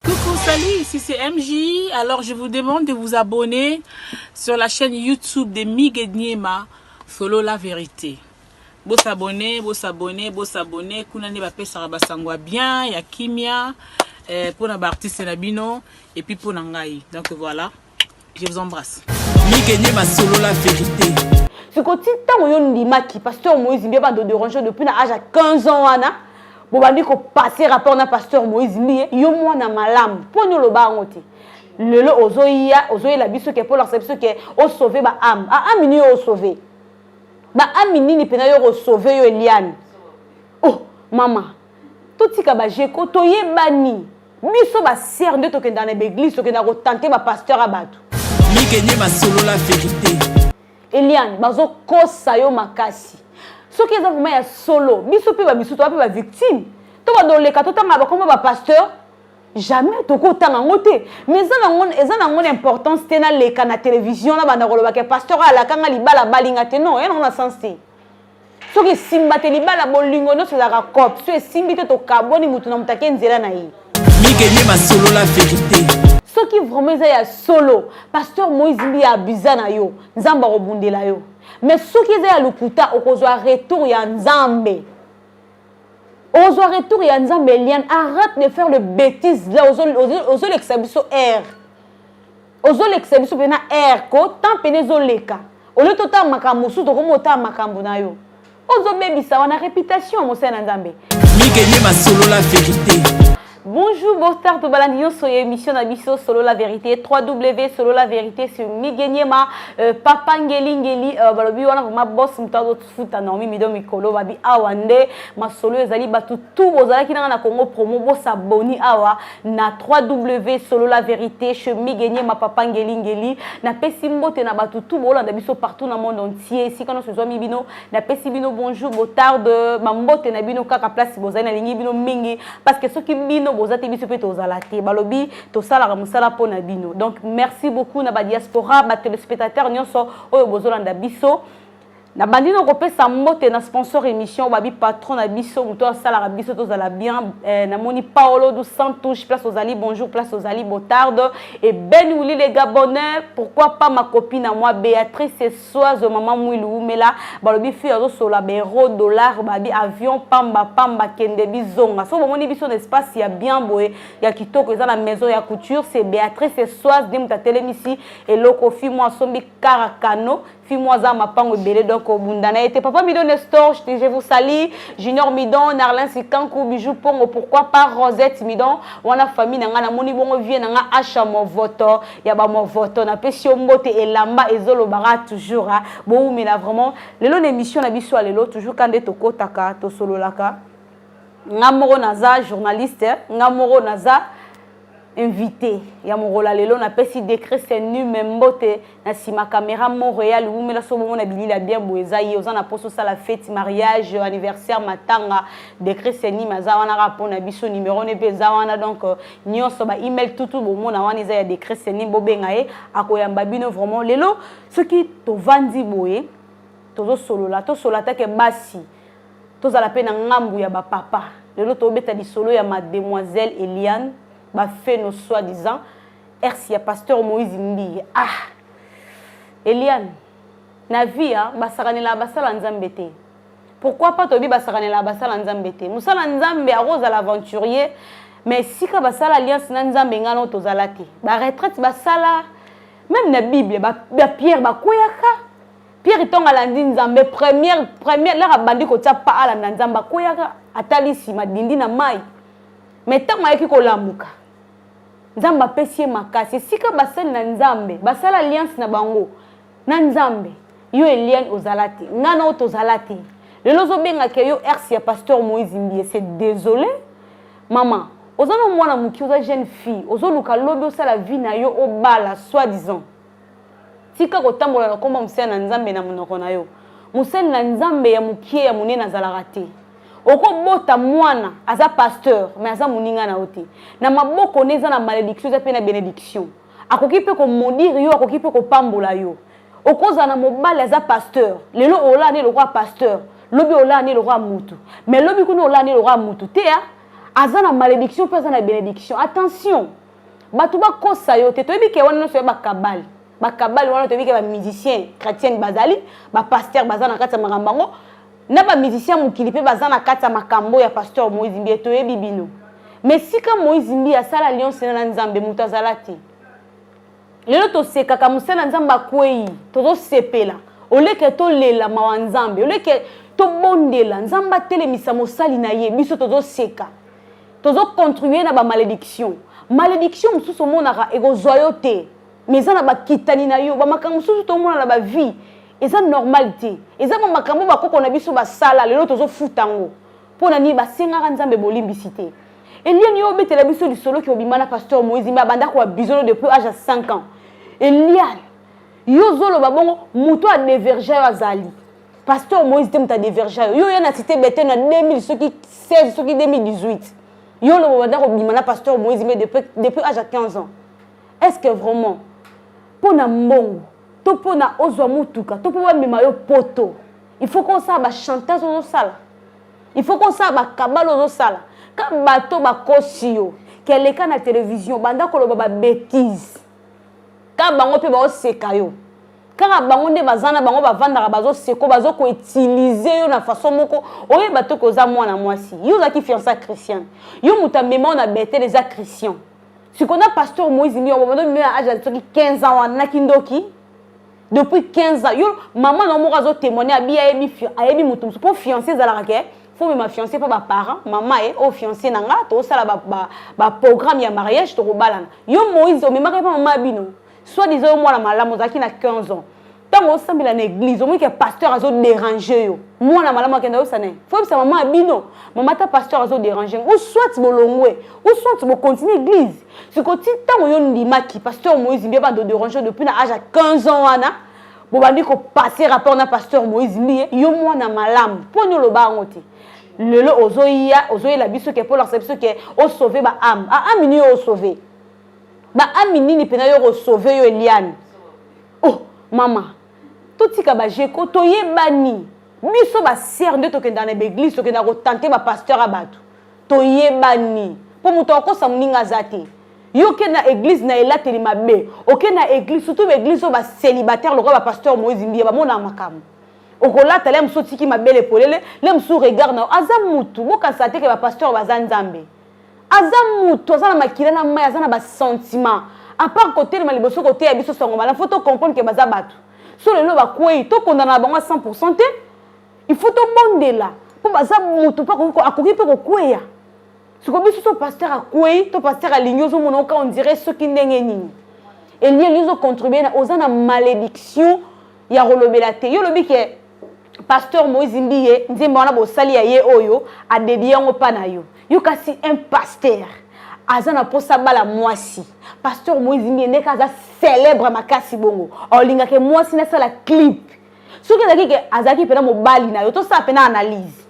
Coucou, salut, ici c'est MJ. Alors je vous demande de vous abonner sur la chaîne YouTube de Migue Niema, Solo la vérité. Bo s'abonner, bo s'abonner, bo s'abonner. Kuna ne bapesaka basangwa bien, ya kimia, eh, pona ba artistes na bino, et puis pona ngai. Donc voilà. je vous embrasse mikenye basolola verité siko ti ntango yo ndimaki pasteur moïse mbiye bando derange depuis na age ya 15 ans wana bobandi kopase rapport na pasteur moïse mbiye yo mwana malamu mpo ni oloba yango te lelo ozoya ozoyela biso ke mpo olakisa biso ke osauve baame aame nini yo osauve baame nini mpenza yo okosauve yo eliane oh mama totika bajeko toyebani biso ba sœur nde tokendaka na baeglise tokendaka kotante bapasteur ya bato mikenye basolola verité eliane bazokosa yo makasi soki eza vraimen ya solo biso mpe bamisu toa mpe bavictime to badoleka totanga bakombo bapasteur jamais tokotanga yango te mais eza na yango na importance te naleka na télévision nabanda kolobaka pasteur alakanga libala balinga te non yanango na sens te soki esimba te libala bolingo nyonso ezalaka cope so esimbi te tokabwani motu na moto ake nzela na ye mikeye masolola verite soki vraiment eza ya solo pasteur moïse mbi abusa na yo nzambe akobundela yo mais soki eza ya lokuta okozwa retour ya nzambe okozwa retour ya nzambe eliane arrête de faire le bétise là ozolekisa biso aire ozolekisa biso mpena air ko temps mpena ezoleka olio totala makambo mosusu tokomi otala makambo na yo ozobebisa wana reputation ya mosali na nzambe mikenye masolola verite Bonjour, bonsoir, tout balandion sur l'émission d'Abisso Solo la vérité, 3W Solo la vérité sur Migeniema, euh, Papa Ngeli Ngeli, euh, Balobi, on a vraiment boss, futa naomi mido mikolo babi awa nde masolo ezali bato tu bozalaki nanga na congo promo bosaboni awa na 3w solola verité chez migenie mapapa ngelingeli napesi mbote na bato tu boolanda biso partout na monde entier esika nyonso ezwami bino napesi bino bonjour botarde bambote na bino kaka place bozali nalingi bino mingi parce que soki bino boza te biso mpe tozala te balobi tosalaka mosala mpo na bino donc merci beaucoup na badiaspora batelespectateur nyonso oyo bozolanda biso nabandi na kopesa mbote na sponsor émission babi patron na biso moto asalaka biso tozala bien eh, namoni paolo du sans touche place ozali bonjour place ozali botarde et ben wili le gabonais pourquoi pas ma copine na moi béatrice soise mama mwilu wumela balobi fille azosola baero dollar babi avion pamba pamba kende bizonga so bomoni biso na espace ya bien boye ya kitoko eza na maison ya couture c'est béatrice soise nde moto atelemisi eloko fi mwa asombi karakano Fimo aza mapango ebele donc obunda na ye te papa midon nestor je, je vous salie junior midon narlin sikanku bijou pongo pourquoi pas rosette midon wana famille na ngai namoni bongo vie na ngai asha movoto ya bamovoto napesi yo mbote elamba ezolobaka toujours hein. bowumela vraiment lelo na émission na biso ya lelo toujours ka nde tokotaka tosololaka nga moko naza journaliste nga moko naza invité ya mokolo ya lelo napesi decret senume mbote na nsima camera montréal wumela so bomona bilila bien boye eza ye oza na mposa osala fete mariage anniversaire matanga decret senume aza wana kaka mpo na biso numero ne mpe eza wana donc euh, nyonso ba email tutu bomona wana eza ya decret senume bobenga ye akoyamba bino vraiment lelo soki tovandi boye tozosolola tosolola take basi tozala mpe na ngambu ya ba papa lelo tobeta lisolo ya mademoiselle eliane ba feno soit disant ex ya pasteur moïse mbiye ah eliane na vie ya basakanela basala nzambe te pourquoi pas toyebi basakanela basala nzambe te mosala nzambe akozala aventurier mais esika basala alliance na nzambe ngai nao tozala te baretraite basala meme na bible bapierre ba bakweyaka Pierre Tonga alandi Nzambe première première laka bandi kotia pa alanda Nzambe akweyaka atali nsima dindi na mai me ntango ayaki kolamuka Nzambe apesi ye makasi esika basali na Nzambe basala alliance na bango na Nzambe yo Eliane ozala te ngai na yo tozala te lelo ozobengaka yo ersi ya pasteur Moïse Mbiye c'est désolé mama oza na mwana moke oza jeune fille ozoluka lobi osala vie na yo obala soi disant Tika kotambola na kombo ya mosali na Nzambe na monoko na yo. Mosali na Nzambe ya mokie ya monene azalaka te. okobota mwana aza pasteur mais aza moninga na yo te na maboko ne eza na malédiction eza mpe na bénédiction akoki mpe komodire yo akoki mpe kopambola yo okozala na mobali aza pasteur lelo olaa ne lokola pasteur lobi olaa ne lokola mutu mais lobi kuna olaa ne lokola mutu te aza na malédiction mpe aza na bénédiction attention bato bakosa yo te toyebi ke wana nyonso ya bakabale bakabale wana toyebi ke bamusicien chrétienne bazali bapaster baza na kati ya makambo yango na bamusicien ya mokili mpe baza na kati ya makambo ya pasteur moïse mbiye toyebi bino mais sika moïse mbiye asala alliance na na nzambe moto azala te lelo tosekaka mosala ya nzambe akwei tozosepela oleke tolela mawa nzambe oleke tobondela nzambe atelemisa mosali na ye biso tozoseka tozo contribuer na ba malediction malediction mosusu omonaka ekozwa yo te mais eza na bakitani na yo bamakambo mosusu tomona na bavie eza normal te eza bamakambo bakoko na biso basala lelo tozofuta yango mpo na nini basengaka nzambe bolimbisi te eliani yo obetela biso lisolo ke obima na pasteur moïse me abanda koabizono depuis age ya 5 ans eliane yo ozoloba bongo moto adeverge yo azali pasteur moïse te moto adeverja yo yo ya na cité bete na 2000 soki 16 soki 2018 yo lobo banda kobima na pasteur moïse mais depuis, depuis age ya 15 ans est ce que vraiment mpo na mbongo to mpo na ozwa motuka to mpo bamema yo poto il faut kosala bachantage ozosala il faut kosala bakabale ozosala ka bato bakosi yo keleka na televizio banda koloba babetise ka bango mpe baoseka yo kaka bango nde baza na bango bavandaka bazoseko bazo koutilize yo na façon moko oyeba toke oza mwana mwasi yo ozalaki fiança christian yo moto amemao na betele eza christian sikona pasteur moïse miyobomadomino ya age ya soki 15 ans wana na kindoki depuis 15 ans yo mama na moko azotémoigne abi ayebi ayebi moto mosusu mpo fiancé ezalaka ke fo mema fiancé mpo baparent mama ye oyo fiancé na nga tokosala baprogramme ba, ba ya mariage tokobalana yo moïse omemaka ye mpo mama ya bino Soit disant yo mwana malamu ozalaki na 15 ans. Tango osambela na église, omoni ke pasteur azo déranger yo. Mwana malamu akenda yo sana. Faut yebisa maman abino, maman ta pasteur azo déranger. Ou soit bolongwe, ou soit bo continuer église. Siko ti tango yo ndimaki pasteur Moïse Mbiye ba do déranger depuis na âge à 15 ans wana. bobandi kopase rapport na pasteur moïse mbiye yo mwana malamu mpo nini oloba yango te lelo ozoya ozoyela biso ke mpo olakisa biso ke osauve baame aame nini yo osauve ba ami nini mpena yo kosauve yo eliane oh mama totika bajeko toyebani biso basere nde tokendaka na baeglise tokendaka kotante bapasteur ya bato toyebani mpo moto akosa moninga aza te yo okende na eglise na elateli mabe okende na eglise surtout baeglise oyo bacelibataire lokola bapasteur moise mbiya bamonaka makambo okolata le mosusu otiki mabele polele le mosusu regard na yo aza mutu bokanisa te ke bapasteur baza nzambe aza mutu aza na makila na mai aza na basentiment apart kotelema liboso koteya biso sango malamu fo tocomprendre ke baza bato so lelo bakwei tokondana na bango ya 100 te il faut tobondela mpo baza motu mpe akoki mpe kokweya siko biso so paster akwei to paster alingi ozomona oka ondire soki ndenge nini elie elingi ozocontribue na oza na malédiction ya kolobela te yo olobi ke pasteur moïse mbiye nzembo wana bosali ya ye oyo adedie yango mpa na yo yo kasi un pasteur aza na mposa bala mwasi pasteur moïse mbiye ndeke aza célèbre makasi bongo olingaka mwasi nasala clip soki ezalaki ke azalaki mpena mobali na yo tosala mpena analyse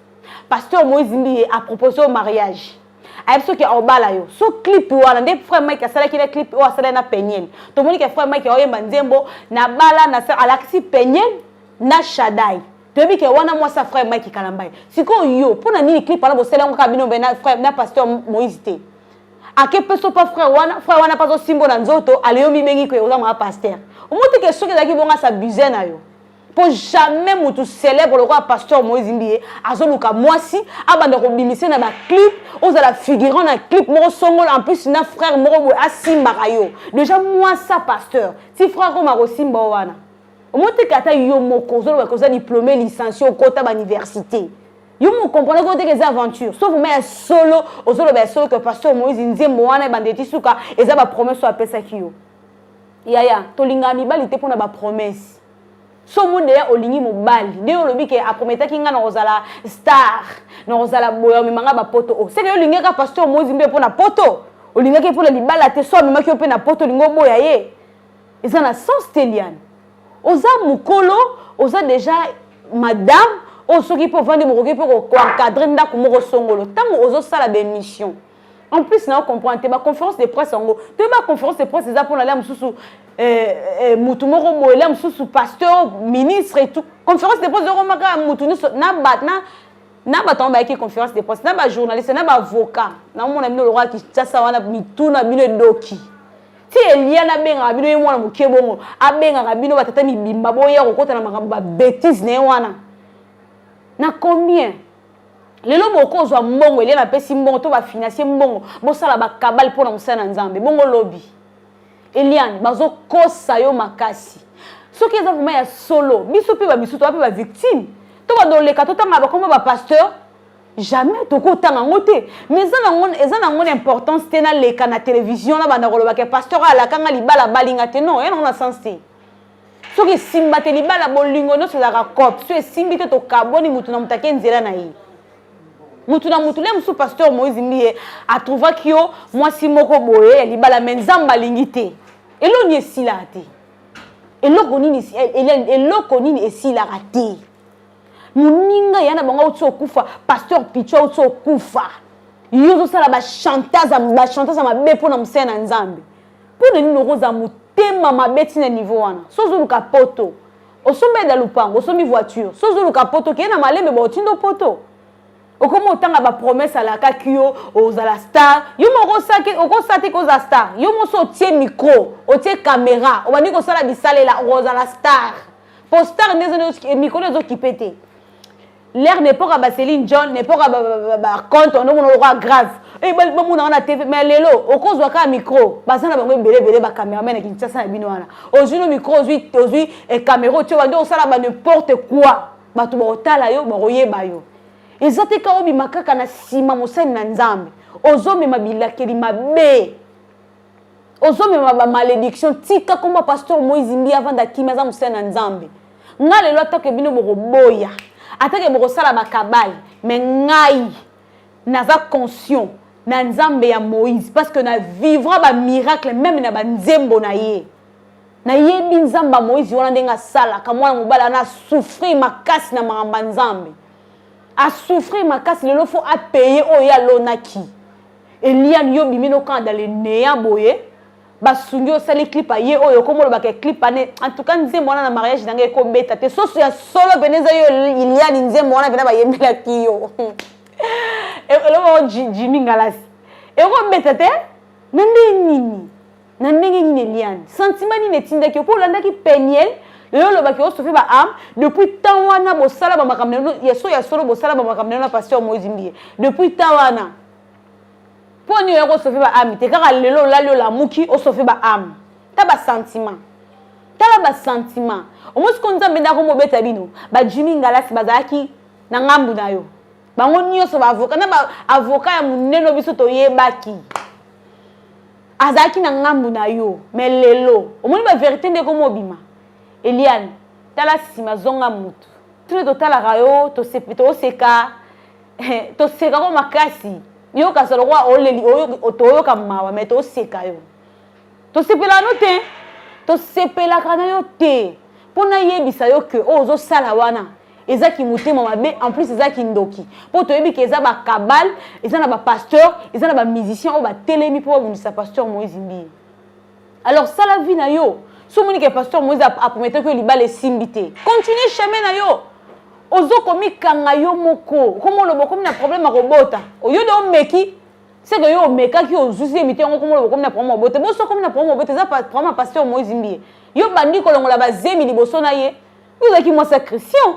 pasteur moïse mbiye apropose yo mariage ayebi soki aobala yo so clip wana nde frère mike asalaki na clip oyo asalaki na peniel tomoni ke frère mike aoyemba nzembo nabala alakisi peniel na shadai toyebi ke wana mwasi ya frère mike kalambai sikoyo yo mpo na nini clip wana bosala yango kaka bino mbe na frère na pasteur moïse te ake peso pa frère wana frère wana mpe azosimbo na nzoto aleyo mibengi ke oza mwa pasteur omote ke soki ezalaki bongo asabuse na yo mpo jamais motu célèbre lokola pasteur moïse mbiye azoluka mwasi abanda kobimise na baclip ozala figurant na clip moko songola en plus na frère moko boye asimbaka yo déjà mwasa pasteur ti frère koma kosimba o wana omoteka ata yo moko ozoloba ke oza diplome licencie okota bauniversité yo mokomprendre ko teke eza aventure so vraimen ya solo ozoloba ya solo ke pasteur moïse nzembo wana ebanda eti suka eza bapromese oyo apesaki yo yaya tolingaka mibali te mpo na bapromese so omoni deya olingi mobali nde yo olobi ke aprometaki ngai nakozala star nakozala boya omema ngai bapoto o oh, seke yo olingaka pasteur moïse mpe mpo na poto olingaki mpo na libala te so amemaki yo mpe na poto olingi oboya ye eza na sens te liane oza mokolo oza deja madame oyo soki mpe ovandi mokoki mpe koencadre ndako moko songolo ntango ozosala baémission en plus na ocomprendre te baconférence de presse yango toyeba conférence de presse eza mpona lia mosusu eh, eh, motu moko boye lia mosusu pasteur ministre et tout conférence de presse okomaka motu nyonso na bat na na bato yango bayaki conférence de presse na bajournaliste na baavocat naomona bino lokola kinshasa wana mituna bino edoki ti eliana abengaka bino ye mwana moke bongo abengaka bino batata mibimba boya kokota na makambo babetise na ye wana na combien lelo bokoki kozwa mbongo eliana apesi mbongo to bafinancie mbongo bosala bakabale mpo na mosala na nzambe bongo lobi eliane bazokosa yo makasi soki eza vraimen ya solo biso mpe bamisusu toa mpe bavictime to bandoleka totangaka bakombo bapasteur jamais tokotanga yango te mais eza nango eza nango na importance te naleka na télévision nabanda koloba ke pasteur alaka nga libala abali nga te non ya nango na sens te soki esimba te libala bolingo nyonso ezalaka cope so esimbi te tokabwani motu na motu ake nzela na ye motu na motu le mosusu pasteur moïse mbiye atrouvaki yo mwasi moko boye ya libala me nzambe alingi te eloni esilaka te eloko nini eloko nini esilaka te moninga ya na bango auti okufa pasteur picho auti okufa yo ozosala bachantage ya mabe mpo na mosala na nzambe mpo na nini okozala motema mabe ntina niveau wana so ozoluka poto osombi eda lupango osombi voiture so ozoluka poto keye na malembe baotindo poto okomi otanga bapromese alakaki yo ozala star yo moko okosa te kozala star yo mosi otie micro otie kamera obandi kosala bisalela okozala star po star nde eh, mikolo ezo kipe te l'air nepoka ba celine john nepoka baconte ono mona lokola grave eh, bamona wana tv mais lelo okozwa kaka micro baza na bango ebele ebele bacameraman ya kinshasa na bino wana ozwi no micro ozwi ozwi eh, camera otyo bande osala ba n'importe quoi bato bakotala yo bakoyeba yo eza te ka obima kaka na nsima mosali na nzambe ozomema bilakeli mabe ozomema ba malediction tika komba pasteur moise mbi avanda kimia aza mosali na nzambe ngai lelo atake bino bokoboya atake bokosala bakabale me ngai naza conscient na nzambe ya moïse parce que na vivra bamiracle meme na banzembo na ye nayebi nzambe ya moïse wana ndenge asalaka mwana mobali ana asouffrir makasi na makambo ya nzambe asouffrir makasi lelo fo apaye oyo ye alonaki Eliane yo bimi no kanda le nea boye basungi osali clip aye oyo okomolobaka ya clip ane en tout cas nzembo wana na mariage na ngai ekobeta te soso ya solo pene eza yo eliane nzembo wana pena bayembelaki yo eloko jimi ngalasi ekobeta te na nde nini na ndenge nini eliane sentiment nini etindaki yo mpo olandaki peniel lelo olobaki osofe ba ame depuis temps wana bosala bamakambo na bino ya so ya solo bosala bamakambo na bino na pasteur moise mbiye depuis temps wana mpo nini oyaki osofe ba ame te kaka lelo olali olamuki osofe ba ame ta basentiment tala basentiment omosi ko nzambe ndako mobeta bino bajimi ngalasi bazalaki na ngambu na yo bango nyonso baavoka na baavoka ya monene biso toyebaki azalaki na ngambu na yo me lelo omoni ba verite nde ekomi obima eliane tala nsima zonga mutu tino totalaka yo toseka toseka ko makasi yo kasi lokola oleli toyoka mawa me toseka yo tosepelaka no te tosepelaka na yo te mpo nayebisa yo ke oyo ozosala wana eza kimotema mabe en plus eza kindoki mpo toyebi ke eza bacabale eza na bapasteur eza na bamusicien oyo batelemi mpo babundisa pasteur moïse mbiye alors sala vie na yo so omoni ke pasteur moïse aprometaki yo libala esimbi te continue chemin na yo ozo komikanga yo moko okomi oloba okomi na problème ya kobota oyo de omeki seke yo omekaki ozuzi emite yango okomi oloba okomi na problème ya kobota boso okomi na problème ya kobota eza problème ya pasteur moïse mbiye yo bandi kolongola bazemi liboso na ye ozalaki mwasi ya christian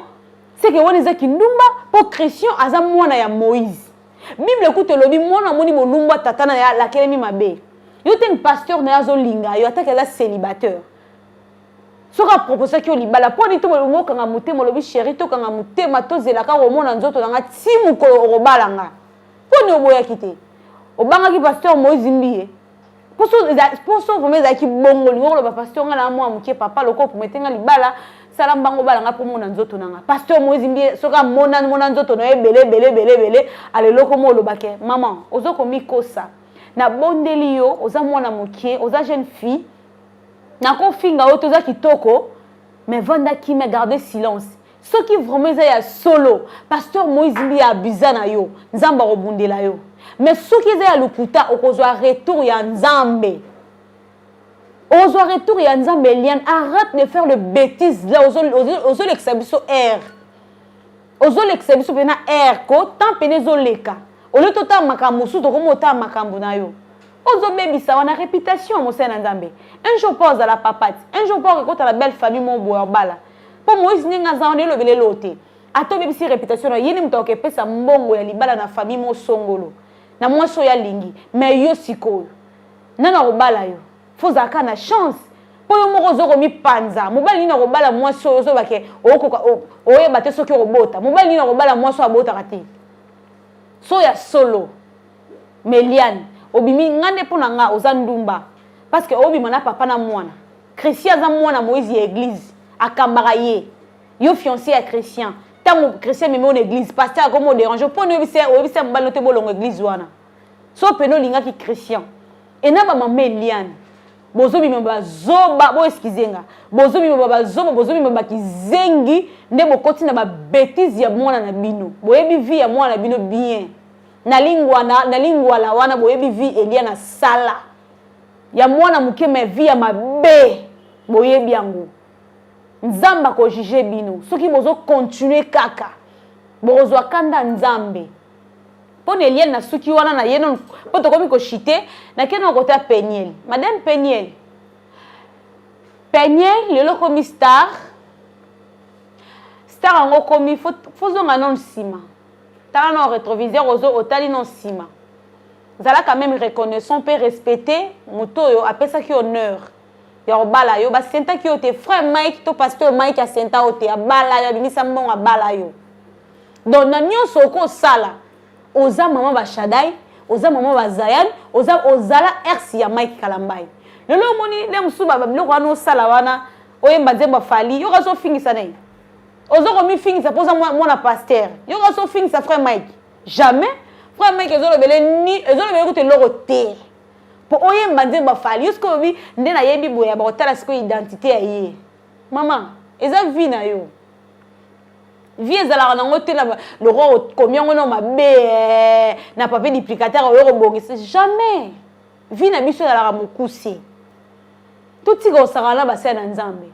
seke wana eza kindumba mpo christian aza mwana ya moïse bible kutu elobi mwana amoni molumbu ya tata na ye alakelemi mabe yo te pasteur na ye azolinga yo atake aza célibataire soki aproposaki yo libala mpo nini tobolingi okanga motema olobi sheri tokanga motema tozelaka komona nzoto na nga ti mokolo okobala nga mpo nini oboyaki te obangaki pasteur moïse mbiye poso vraimen ezalaki bongo lingo koloba pasteur ngai naa mwa moke papa lokola promete ngai libala sala mbango obala ngai mpo mona nzoto na ngai pasteur moizi mbie soki amona mona nzoto na yo ebele ebele ebele ebele ala eloko mo olobake maman ozo komikosa nabondeli yo oza mwana moke oza jeune fille nakofinga yo toza kitoko mais vanda kimia garde silence soki vraiment eza ya solo pasteur moïse mbi ya abusa na yo nzambe akobundela yo mais soki eza ya lokuta okozwa retour ya nzambe ozwa retour ya nzambe eliane arrête de faire le bétise la ozolekisa biso air ozolekisa biso mpena air ko temps mpena ezoleka olie totala makambo mosusu tokomi otala makambo na yo ozobebisa wana réputation mosali na nzambe un jour mpo ozala papati un jour mpo okekota na belle famille mo boya obala mpo moïse ndenge aza wana elobela eloo te ata obebisi reputation na ye nde moto akepesa mbongo ya libala na famille mosongolo na mwasi oyo alingi me yo sikoyo nani akobala yo fo ozala kaka na chance mpo yo moko ozo komipanza mobali nini akobala mwasi oyo ozoba ke okoka oyeba te soki okobota mobali nini akobala mwasi oyo abotaka te so ya solo meliane obimi nga nde mpo na nga oza ndumba parce que obima na papa na mwana Christian aza mwana Moïse ya église akambaka ye yo fiancé ya Christian ntango Christian meme na église pasteur akomi oderange mpo ni oyebisa oyebisa mobali no te bolongo église wana so pene olingaki Christian e na bamama eliane bozobima bazoba boeskize nga bozobima bazoba bozobima bakizengi nde bokoti na babetise ya mwana na bino boyebi vie ya mwana na bino bien na lingwana na lingwala wana boyebi vie elia na sala ya mwana moke ma vie ya mabe boyebi yango nzambe akojuge bino soki bozokontinue kaka bokozwa kanda nzambe mpo na eliane nasuki wana na ye nono mpo tokomi koshite nake nono kota peniel madame peniel peniel lelo komi star star yango komi fozonga nono nsima tala na retroviseur ozo otali na nsima zalaka meme reconnaissant mpe respecte moto oyo apesaki honneur ya kobala yo basentaki yo te frère mike to pasteur mike asenta yo te abala yo abimisa mbongo abala yo donc na nyonso okosala oza mama bashadai oza mama bazayan oza ozala ersi ya mike kalambai lelo omoni nde mosusu babiloko wana osala wana oyemba nzembo afali yo kazi ofingisa na ye ozo komifingisa mpo oza mwana pasteur yo kasi ofingisa frère mike jamais frère mike ezolobele ni ezolobele kutu eloko te mpo oyemba nzembo afali yo sikoyo olobi nde nayebi boye ya bakotala sikoyo identité ya ye mama eza vie na yo vie ezalaka nango te na lokola okomi yango na mabe eh, na papier duplicataire oyo kobongisa jamais vie na biso ezalaka mokuse totika osakana na basali na nzambe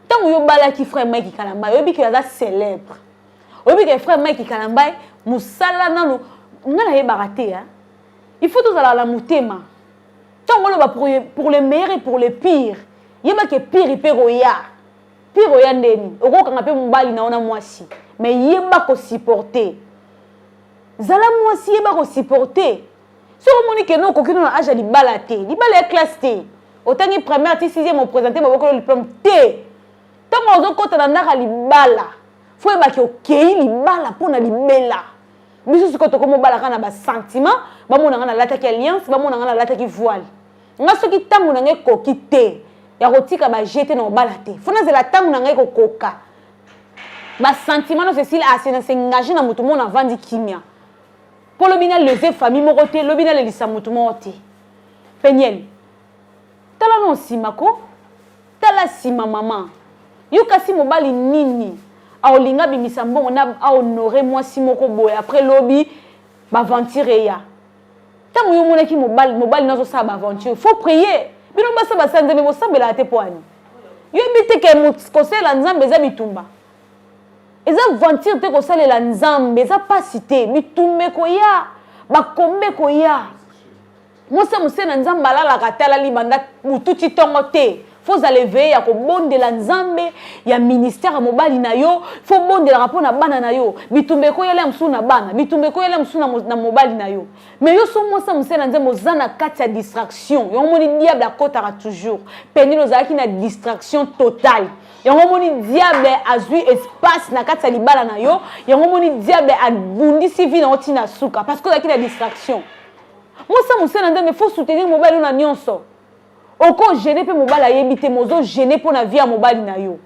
ntango yo obalaki frère mike kalamba oyebi ke aza célèbre oyebi ke frère mike kalamba mosala nano nga nayebaka te ya il faut tozala na motema ntango oloba pour le meilleur et pour le pire yeba ke pire mpe koya pire oya ndeni okokanga mpe mobali na yo na mwasi mais yeba kosupporte zala mwasi yeba kosupporte soki omoni keno okoki no na age ya libala te libala ya classe te otangi première ti sixième opresente babokolo diplôme te ntango ozokɔta na ndaka libala fo oyebaki okei libala mpo na libela biso sikoyo tokomi obalaka na basentiment bamona ngai nalataki alliance bamona ngai nalataki voile ngai soki ntango na ngai ekoki te ya kotika baje te na kobala te fo nazela ntango na ngai kokoka basentiment nyonso esili asena ah, sengage na moto mona avandi kimia mpo lobi na lese famille moko te lobi na lelisa motu moko te peniel tala no nsima ko tala nsima mama yo kasi mobali nini aolinga abimisa mbongo na ahonore mwasi moko boye après lobi baventure eya ntango yo omonaki mobali mobali na azosala baaventure faut prier bino basa basanzemi bosambelaka te mpo ani yo yebi te ke kosala nzambe eza bitumba eza venture te kosalela nzambe eza mpasi te bitumba ekoya bakomba ekoya mosa mose na nzambe alalaka te alali banda motuti ntongo te fo ozala eveye ya kobondela nzambe ya ministère ya mobali na yo fo obondelaka mpo na bana na yo bitumba ekoyela ya mosusu na bana bitumba ekoyela ya mosusu na mobali na yo mais yo so mwasi ya mosali na nzambe oza na kati ya distraction yango omoni diable akotaka toujours penile ozalaki na distraction totale yango omoni diable azwi espace na kati ya libala na yo yango omoni diable abundisi vi na yo ntina suka parce que ozalaki na distraction mosa mosala nzambe fo soutenir mobali na nyonso okogene mpe mobali ayebi te mozogene mpo na vi ya mobali na yo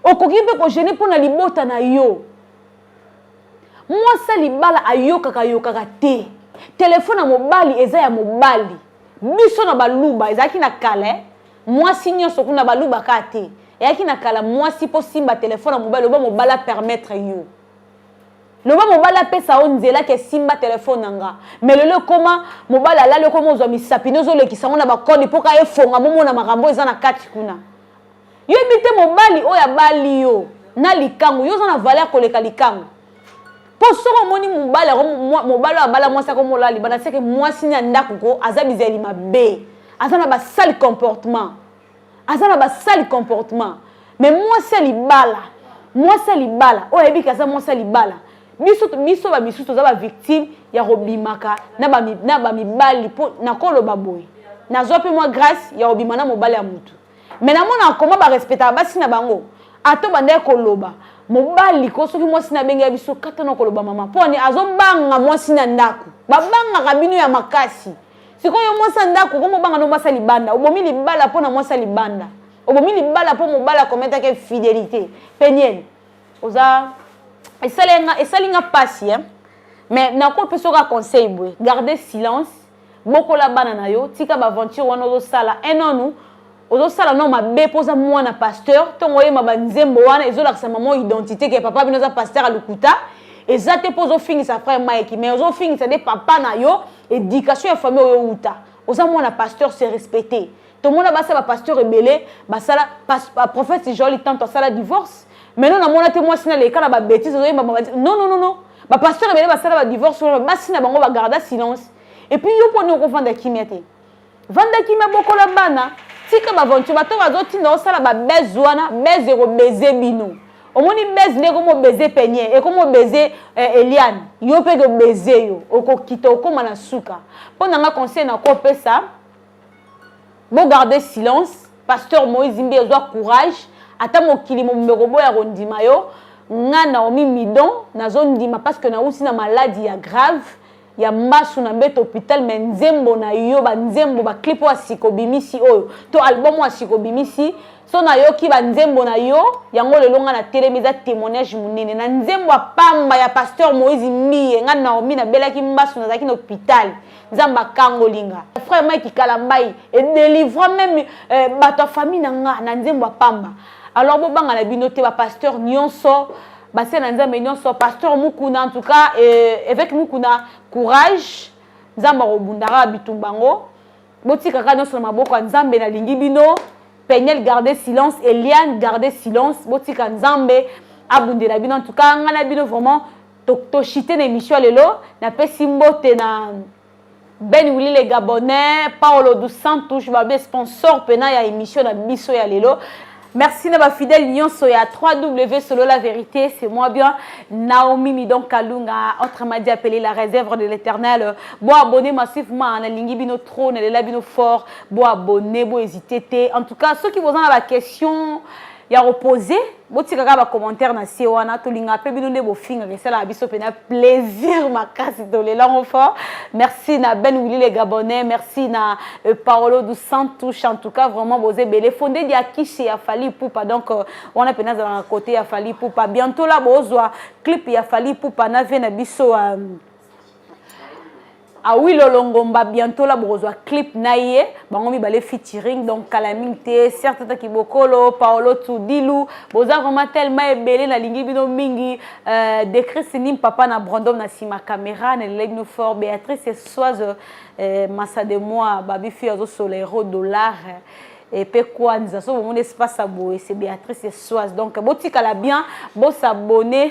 okoki mpe kogene mpo na libota na yo mwasi ya libala ayokaka ayokaka te telefone ya mobali eza ya mobali biso na baluba ezalaki na kala Mwasi nionso kuna baluba ka te. Eyaki na kala mwasi po simba telefone ya mobali loba mobali a permettre yo. Loba mobali apesa yo nzela ke simba telefone na nga. Mais lelo ekoma mobali alali okoma ozwa misapi nde ozolekisa yango na bakode po ka efonga momona makambo eza na kati kuna. Yo yebi te mobali oyo abali yo na likangu yo oza na valeur koleka likangu. mpo soki omoni mobali yango mobali oyo abala mwasi ako molala libanda seke mwasi na ndako ko aza bizali mabe aza na basali comportement aza na basali comportement mais mwasi ya libala mwasi ya libala oyo ayebi ke aza mwasi ya libala biso biso bamisusu toza bavictime ya kobimaka na bamibali mpo nakoloba boye nazwa mpe mwa grâce ya kobima na mobali ya motu me namona koma barespectaka basi na bango ato bandaki koloba mobali ko soki mwasi na abengela biso kata na koloba mama mpo ani azobanga mwasi na ndako babangaka bino ya makasi sikoyo mwasi ya ndako okomi obanga no mwasi ya libanda obomi libala mpo na mwasi ya libanda obomi libala mpo mobali akometaki infidelité peniel oza esali nga mpasi eh? mais nakopesoka conseil boye garde silence bokola bana na yo tika ba aventure wana ozosala un an nous ozosala no mabe mpo oza mwana pasteur ntongo oyema banzembo wana ezolakisa mama identité ke papa bino aza pasteur ya lokuta eza te mpo ozofingisa frère mike mais ozofingisa nde papa na yo éducation ya famille oyo outa oza mwana pasteur se respecter tomona basi ya bapasteur ebele basala prophète joel tanto asala divorce maintenant namona te mwasi na leka na babétise ozoyemba non non non non bapasteur ebele basala badivorce wana basi na bango bagarda silence epuis yo mponi okovanda kimia te vanda kimia bokola bana tika baventure bato bazotinda osala babese wana bese ekobeze bino omoni bese nde ekomi obeze penie ekomi obeze eh, eliane yo mpe ekobeze yo okokita okóma na suka mpo na nga conseil nakopesa Bo garder silence, pasteur Moïse Mbiye zwa courage, ata mokili mobimba ekoboya kondima yo, nga Naomi Midon nazo ndima parce que nauti na maladi ya grave ya mbasu na mbeto hôpital mais nzembo na yo ba nzembo ba clip oyo asiko bimisi oyo to album oyo asiko bimisi so nayoki ba nzembo na yo yango lelo nga na telemi eza témoignage monene na nzembo ya pamba ya pasteur Moïse Mbiye nga Naomi nabelaki mbasu nazalaki na hôpital nzambe akangoli nga frère mike kalambai edelivra meme eh, bato ya famille na nga na nzembo ya pamba alors bobanga na bino te bapasteur nyonso basia na nzambe nyonso pasteur mukuna en tout cas eh, évêque mukuna courage nzambe akobundaka bitumba yango botikaka nyonso na maboko ya nzambe nalingi bino peniel garde silence eliane garde silence botika nzambe abundela bino en tout cas ngai na bino vraiment toshite na emission ya lelo napesi mbote na ben wili le gabonais paolo dos santos babe sponsor mpena ya emission na biso ya lelo merci na bafidèle nyonso ya 3w solo la vérité c'est moi bien naomi midon kalunga autrement dit appelé la réserve de l'éternel bo abonné massivement nalingi bino trop nalela bino fort bo abonné bo hésité te en tout cas soki boza na baquestion ya kopose botika kaka bacommentaire na se wana tolingaka mpe bino nde bofingaka esalaka biso mpena plaisir makasi tolelango fort merci na ben willi le gabonais merci na euh, paolo du santush en tout cas vraiment boza ebele fonde dia kishi ya fali pupa donc euh, wana mpena azalaka kote ya fali pupa bientôt la bozwa clip ya fali pupa na vie na biso euh, awi lolongomba bientôt la bokozwa clip na ye bango mibale featuring donc kala mingi te certata kibokolo paolo tudilu boza vraiment tellement ebele nalingi bino mingi euh, decrisi nim papa na brandom na nsima caméra nalelai bino fort béatrice soise euh, masa de moi babi fille azosola euro dollar euh, epe kwanza so bomoni espace ya boye se béatrice soise donc botikala bien bosabone